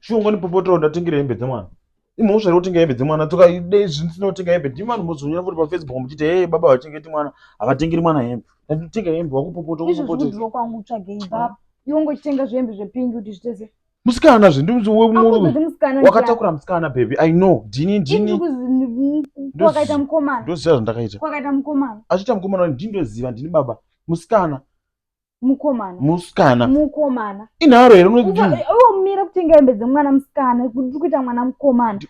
shongo nipopotoro ndatengera hembe dzemwana imhosva iri kutenga hembe dzemwana tokaidei zvinsinotenga hembe ndimi vanhu mozonyora futi pafacebook muchiti hee baba vachengeti mwana havatengeri mwana hembe ndatitenga hembe wakupopota izvozvikudiwa kwangu utsvagei baba iwe ungochitenga zvehembe zvepingi kuti zvitese musikana zve ndiwakatakura musikana baby i know ndini ndiniwakaita mukomana ndoziva zvandakaita wakaita mukomana achiita mukomana ndindoziva ndini baba musikana mukomana musikana mukomana inharo here unozivaomira kutenga hembe dzemwana musikana kuti kuita mwana mukomana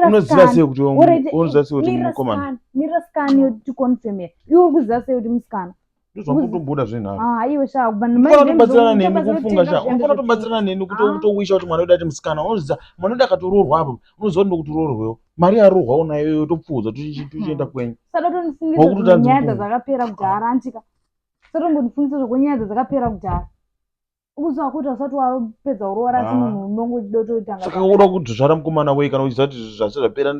unoziva sei kuti unoziva sei kuti mukomana mira sikana yoti confirmer iwe uri kuziva sei kuti musikana ndozvakutomboda zvenharotobatsirana neni kufunga sha unofana tobatsirana neni kutowisha kuti mwana wedu ati musikana unozviza mwana wedu akatoroorwa apo unoziva kuti ndokutoroorwewo mari yaroorwa unayoyo topfuuza tochienda kwenyu sadotondifunginyaya dzazakapera kudhara antika satongondifungisa zvakonyaya dzadzakapera kudhara ukuziva kuti usati wapedza uroora asi ah. munhu unonge uchida utoitanga saka unoda kudzvara mukomana wei kana uchiziva kuti zvase zvapera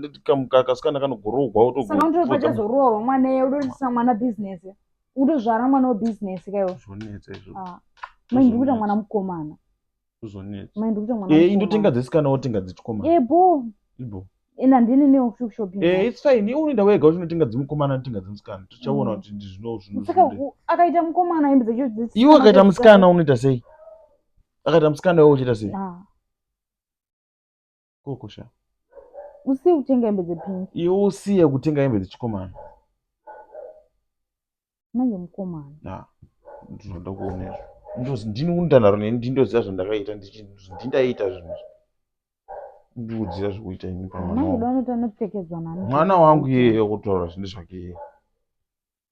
kasikana kanogoroogwa wotosaka unotoda pachazoroorwa mwana iye udotisisa mwana bhizinesi utozvara mwana webhizinesi kaiwo zvonetsa izvo ah. mai ndiri kuita mwana mukomana kuzonetsa Mai ndikuita mwana eh indotenga mukomana. dzesikana wotenga dzechikomana Eh boo. ibo Ena ndini neo shopping. eh kwangu. it's fine iwe unoenda wega uchinotenga dzemukomana anotenga dzemusikana tichaona Mm. kuti ndizvino zvino Saka zvinoda u- akaita mukomana hembe dzacho dzisi. iwe akaita musikana unoita sei akaita musikana iwe uchiita sei Ah. koko sha usiye kutenga hembe dzepingi iwe usiye kutenga hembe dzechikomana manje mukomana na ndinoda kuona izvo Ndozi- ndini undanaro neni ndindoziva zvandakaita ndichi- ndindaita zvinhu izvi. ndiudzira zvekuita ini pamwana manje wangu. donoita nekupfekedzwa nani mwana wangu iyeye kutaura zvinhu zvake iyeye